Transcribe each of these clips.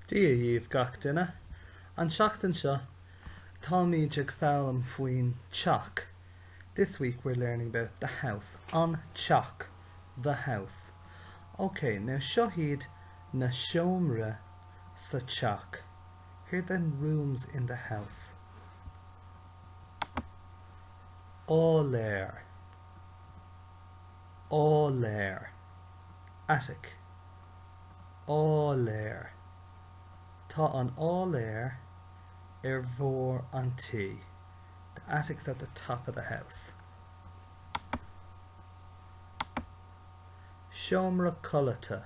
Dia dhíbh gach duine. An seachtain seo táimíd ag foghlaim faoin teach This week we're learning about the house An teach the house Ok, now seo hiad na seomraí sa teach Here are the rooms in the house Áiléar Áiléar Attic. áiléar. Tá an áiléar ar bharr an tí The attic's at the top of the house. seomra codlata,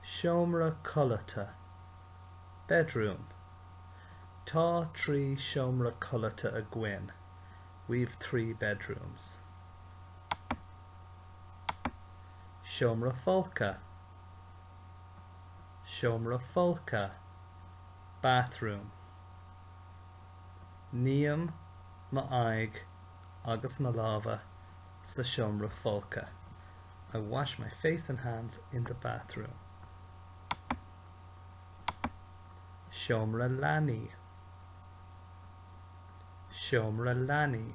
seomra codlata bedroom Tá trí sheomra codlata againn We've three bedrooms. seomra folctha, seomra folctha bathroom Ním m'aghaidh agus mo lámha sa seomra folctha I wash my face and hands in the bathroom seomra leanaí, seomra leanaí.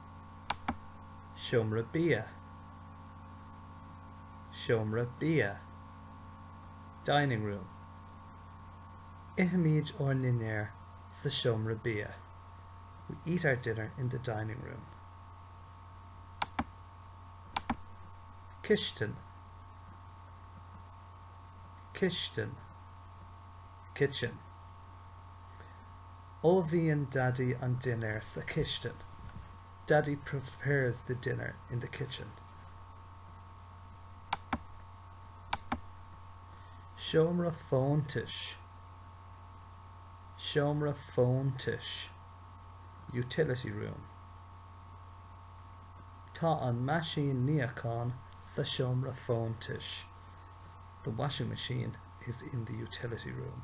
seomra bia, seomra bia dining room ithimid ár ndinnéar sa seomra bia we eat our dinner in the dining room cistin, cistin kitchen. Ullmhaíonn Daidí an dinnéar sa chistin. Daddy prepares the dinner in the kitchen. seomra fóntais, seomra fóntais utility room Tá an meaisín níocháin sa seomra fóntais. The washing machine is in the utility room.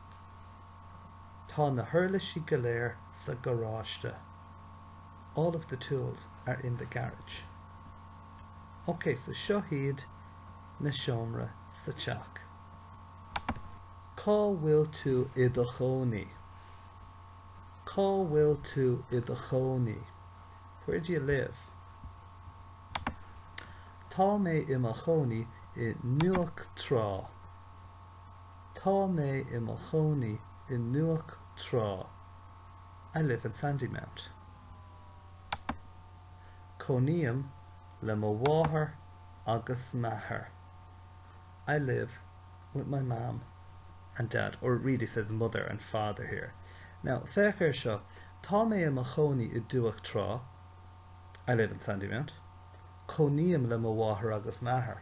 Tá na huirlisí go léir sa gharáiste. All of the tools are in the garage. Ok, so seo hiad na seomraí sa teach. Cá bhfuil tú i do chónaí? Cá bhfuil tú i do chónaí? Where do you live? Tá mé i mo chónaí i nDumhach Trá. Tá mé i mo chónaí i nDumhach Trá I live in Sandymount. Cónaím le mo mháthair agus m'athair I live with my mom and dad, or it really says mother and father here. Now, féach air seo, Tá mé i mo chónaí i nDumhach Trá I live in Sandymount. Cónaím le mo mháthair agus m'athair.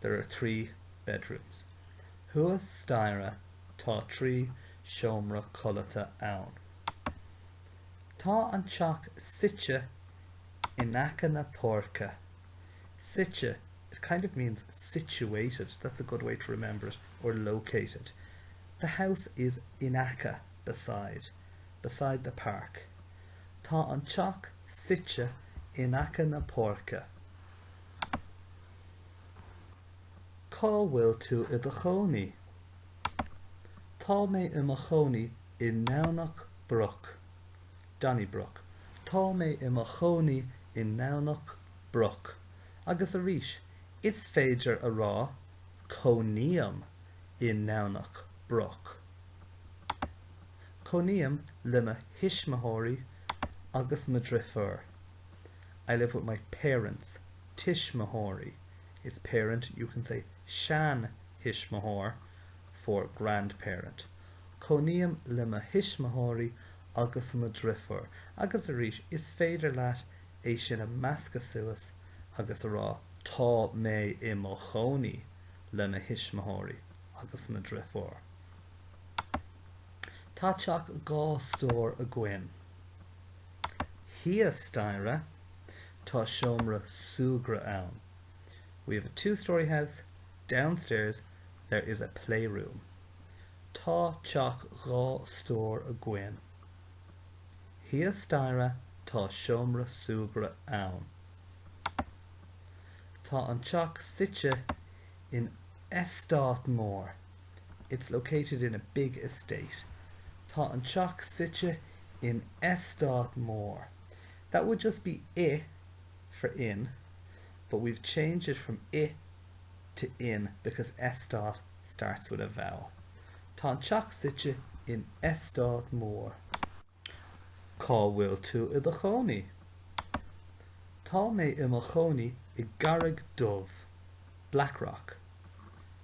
there are three bedrooms. Thuas staighre tá trí seomra codlata ann. Tá an teach suite in aice na páirce. Suite, it kind of means situated, that's a good way to remember it, or located. The house is in aice, beside, beside the park. Tá an teach suite in aice na páirce. Cá bhfuil tú i do chónaí? Tá mé i mo chónaí i nDomhnach Broc. Donnybrook. Tá mé i mo chónaí i nDomhnach Broc. Agus arís, is féidir a rá Cónaím i nDomhnach Broc. Cónaím le mo thuismitheoirí agus mo dhriofúr. I live with my parents. tuismitheoirí is parent, you can say seanthuismitheoir for grandparent cónaím le mo thuismitheoirí agus mo dhriofúr agus arís is féidir leat é sin a mheascadh suas agus a rá tá mé i mo chónaí le mo thuismitheoirí agus mo dhriofúr. Tá teach dhá stór againn. Thíos staighre. Tá seomra súgartha ann. We have a two-storey house, downstairs there is a playroom. Tá teach dhá stór againn. Thíos staighre tá seomra súgartha ann. Tá an teach suite in eastát mór. It's located in a big estate. Tá an teach suite in eastát mór. That would just be i for in, but we've changed it from i to in because eastát starts with a vowel. Tá an teach suite in eastát mór. Cá bhfuil tú i do chónaí? Tá mé i mo chónaí i gCarraig Dubh, Blackrock.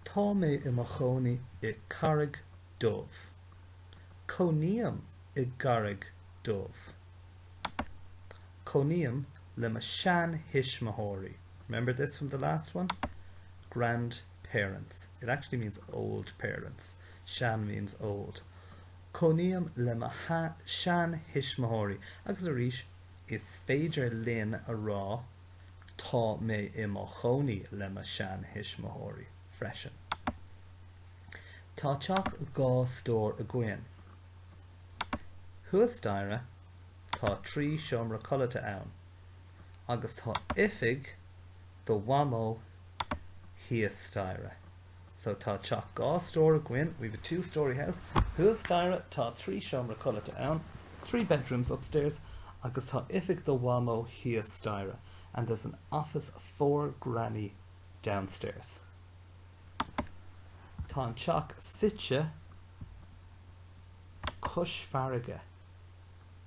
Tá mé i mo chónaí i gCarraig Dubh. Cónaím i gCarraig Dubh. Cónaím le mo shean-thuismitheoirí. Remember this from the last one? Grandparents. It actually means old parents. Sean means old. Cónaím le mo shean-thuismitheoirí. Agus arís, is féidir linn a rá Tá mé i mo chónaí le mo shean-thuismitheoirí freisin. Tá teach dhá stór againn. Thuas staighre tá trí seomra codlata ann agus tá oifig do Mhamó thíos staighre. So tá teach dhá stór againn, we've a two storey house. Thuas staighre tá trí seomra codlata ann, three bedrooms upstairs, agus tá oifig do Mhamó thíos staighre, and there's an office for Granny downstairs. Tá an teach suite cois farraige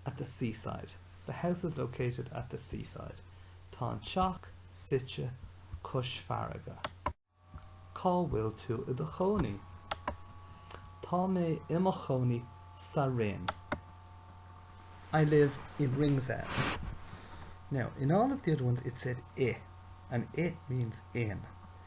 at the seaside. The house is located at the seaside. Tá an teach suite cois farraige. Cá bhfuil tú i do chónaí? Tá mé i mo chónaí sa Rinn. I live in Ringsend. Now, in all of the other ones it said i, and it means in.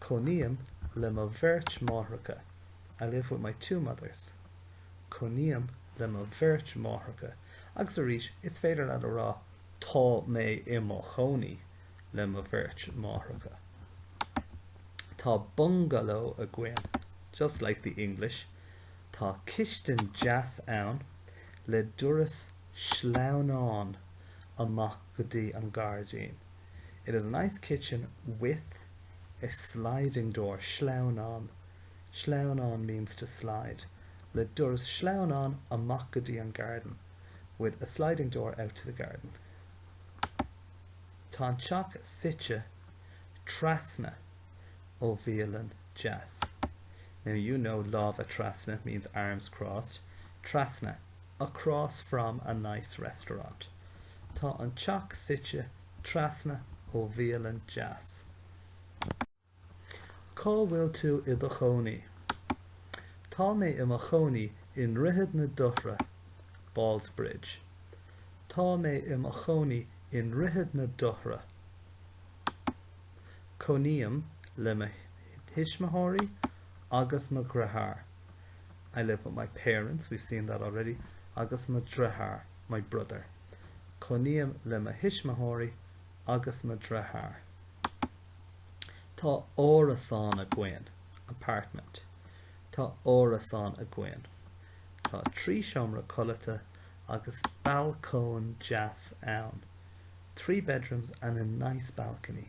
Cónaím le mo bheirt máithreacha I live with my two mothers Cónaím le mo bheirt máithreacha agus arís is féidir leat a rá Tá mé i mo chónaí le mo bheirt máithreacha. Tá bungaló againn Just like the English Tá cistin deas ann le doras sleamhnáin amach go dtí an gairdín. It is a nice kitchen with a sliding door, sleamhnán, sleamhnán means to slide, le doras sleamhnáin amach go dtí an garden, with a sliding door out to the garden. Tá an teach suite trasna ó bhialann deas. Now you know lámha trasna means arms crossed, trasna, across from a nice restaurant. Tá an teach suite trasna ó bhialann deas. Cá bhfuil tú i do chónaí? Tá mé i mo chónaí i nDroichead na Dothra, Ballsbridge. Tá mé i mo chónaí i nDroichead na Dothra. Cónaím le mo thuismitheoirí agus mo dheartháir. I live with my parents, we've seen that already, agus mo dheartháir, my brother. Cónaím le mo thuismitheoirí agus mo dheartháir. Tá árasán againn, apartment. Tá árasán againn. Tá trí seomra codlata agus balcóin deas ann, three bedrooms and a nice balcony.